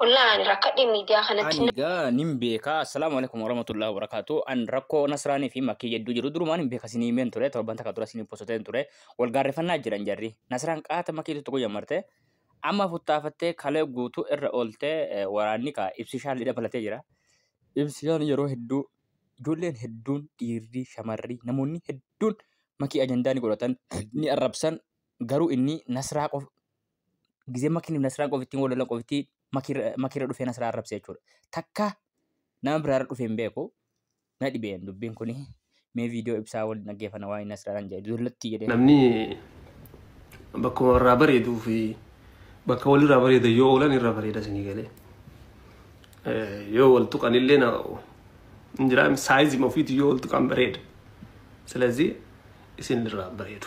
Wallah ani rakkadhe miidiyaa kanatti. Ani gaa nin beeka assalaamu alaikum warahmatullahi wabarakatuh an rakkoo nasraanii fi makkii jedduu jiru durumaan hin beeka sinii himeen ture torban takka dura sinii posoteen ture wal gaarrefannaa jiran jarri nasraan qaata makiitu tokko jammarte amma futtaafattee kalee guutuu irra ooltee eh, waraanni kaa ibsishaan lidha balatee jira ibsishaan yeroo hedduu ijoolleen hedduun dhiirri shamarri namoonni hedduun makii ajandaa ni godhatan ni arrabsan garuu inni nasraa qof gizee makiin nasiraan qofittiin wal lolan qofittii makiirra dhufee nasiraa arrabse jechuudha. Takka nama biraarra dhufee hin beeku na dhibeen dubbiin kuni mee viidiyoo ibsaa wal dhaggeeffana waan inni asirraan jedhe dullatti jedhee. Namni bakkuma irraa bareeduu fi bakka walirraa bareeda yoo oolan irra bareeda isinii galee. Yoo wal tuqan illee na hin jiraam saayizii ofiitu yoo wal tuqan bareeda. Silazii isin irraa bareedu.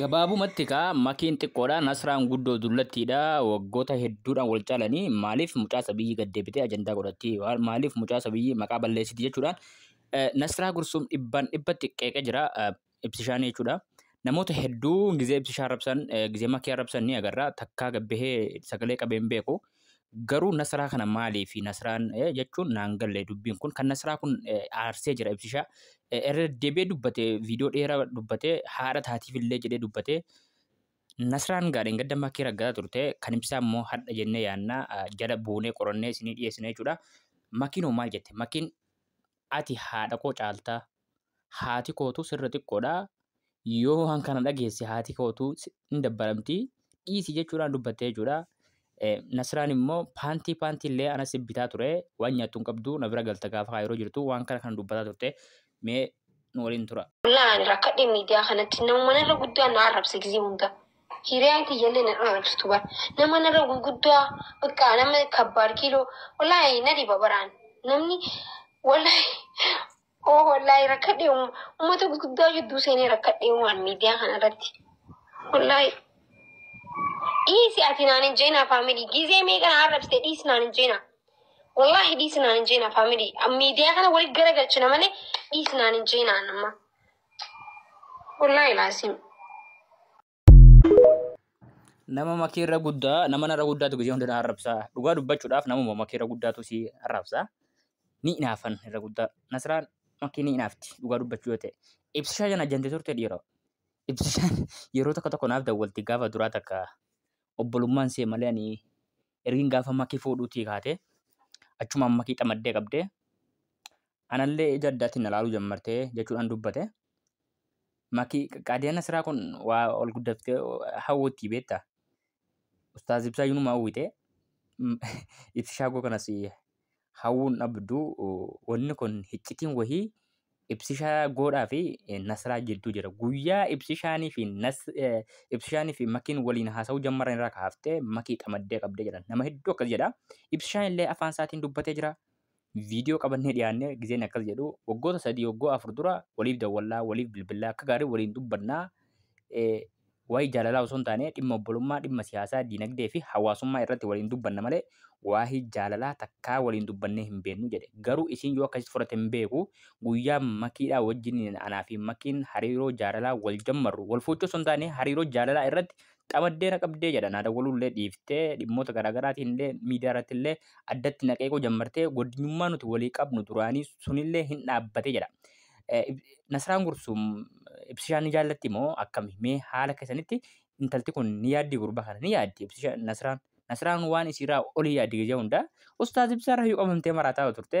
Gabaabumatti kaa makiin xiqqoodha nasraan guddoo dullattiidha waggoota hedduudhaan wal caalanii maaliif mucaa sabiyyii gad deebitee ajandaa godhatti maaliif mucaa sabiyyii maqaa balleessiti jechuudhaan nasraa gursuum dhibbaan dhibbatti qeeqee jira ibsishaanii jechuudha. Namoota hedduu gizee ibsishaa arrabsan gizee makii arrabsan ni agarra takkaa gabbahee sagalee qabeen beeku Garuu nasraa kana maaliif nasraan jechuun naan galle dubbiin kun kan nasraa kun aarsee jira ibsishaa irra deebi'ee dubbate viidiyoo dheeraa dubbate haadha taatiif illee jedhee dubbate nasraan gaadheen gadda makkee raggaa turte kan ibsaa immoo hadha jennee yaannaa jala buunee qorannee isinii dhiyeessine jechuudha. Makiin hoo maal jette? Makiin ati haadha koo caalta. Haati kootu sirra xiqqoodha. Yoo waan kana dhageesse haati kootu hin dabbaramti. Dhiisi jechuudhaan dubbatte jechuudha. Nasraan immoo paantii paantii illee anas bitaa ture waan nyaattu hin qabdu na bira galta gaafa kaayiroo jirtu waan kana kan dubbataa turte mee nu waliin tura. Wallahi ani rakkadhe miidiyaa kanatti namuma narra guddaa na arrabsa gizee hunda. Hiriyaan tiyyallee na dhorka jirtu bar. Nama narra gurguddaa bakka nama kabbaad kiiloo wallaahi na dhiba bar an. Namni wallaahi oo wallaahi rakkadhee um- uummata gurguddaa jidduu seenee rakkadhee waan miidiyaa kana irratti. Wallaahi dhiisi ati naan hin jeenaa faamilii gizee meeqa na arrabsite dhiisi naan hin jeenaa. Wallaahi dhiisi naan hin jeenaa faamilii miidiyaa kana walitti garagalchina malee dhiisi naan hin jeenaa amma. Wallahi laasim. Nama makeerra guddaa nama narra guddaatu gizee hunda na arrabsa. Dhugaa dubbachuudhaaf namuma makeerra guddaatu si arrabsa. Ni inaafan irra guddaa. Nasraan makkee ni inaafti dhugaa dubbachuu yoo ta'e. Ibsishaa jana jante turte dhiiroo. Ibsishaan yeroo tokko tokko naaf dawwalti gaafa duraa takka obbolummaan see malee ani ergin gaafa makii fuudhuutii kaate achumaan makii xamaddee qabdee anallee ija addaatiin na laaluu jammartee jechuudhaan dubbate. Makii qaadiyaa nasiraa kun waa ol guddaftee hawwutti beektaa. Ustaaz Ibsaa Yunuma hawwite ibsi shaagoo kanas hawwuun dhabdu wanni kun hiccitiin wahii ibsishaa goodhaa fi nasraa jidduu jira. Guyyaa ibsishaanii fi ibsishaanii fi makiin waliin haasa'uu jammaran irraa kaaftee makii qamaddee qabdee jedhan. Nama hedduu akkas jedha. Ibsishaan illee afaan isaatiin dubbatee jira. Viidiyoo qabannee dhiyaannee gizeen akkas jedhu waggoota sadii waggoo afur dura waliif dawwallaa waliif bilbillaa akka gaarii waliin dubbannaa waa'ee jaalalaa osoo hin taane dhimma obbolummaa dhimma siyaasaa diinagdee fi hawaasummaa irratti waliin dubbanna malee waa'ee jaalalaa takkaa waliin dubbannee hin beeknu jedhe garuu isiin yoo akkasitti fudhate hin beeku guyyaa makiidhaa wajjin anaa fi makiin hariiroo jaalalaa wal jammarru wal fuuchuu osoo hin taane hariiroo jaalalaa irratti qabaddee na qabdee jedha naa dawwaluullee dhiiftee dhimmoota garaagaraatiin illee miidiyaa irratti illee addatti na qeequu jammartee goddinyummaa nuti walii qabnu duraanii sunillee hin dhaabbatee jedha. Nasraan Gursuum ibsishaan ni jaallatti moo akkami mee haala keessanitti intalti kun ni yaaddi gurbaa kana ni yaaddi ibsisha Nasraan Nasraan waan isiirraa olii yaaddi gizee hundaa ustaaz ibsaarra yoo qabamtee maraataa turte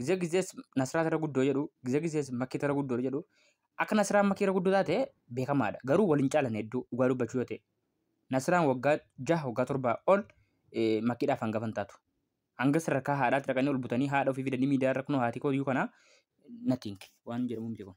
Gizee gizees Nasraat irra guddoo jedhu, gizee gizees Makkiit irra guddoo jedhu. Akka Nasraan Makkii irra guddoo taate beekamaadha. Garuu waliin caalan hedduu dhugaa dubbachuu yoo ta'e. Nasraan waggaa jaha waggaa torbaa ol eh, Makkiidhaaf hangafa hin taatu. Hanga sadarkaa haadhaatti dhaqanii ol butanii haadha ofii fidanii miidiyaa irra kunoo haatii kooyyuu kana nothing waan jedhamu miti kun.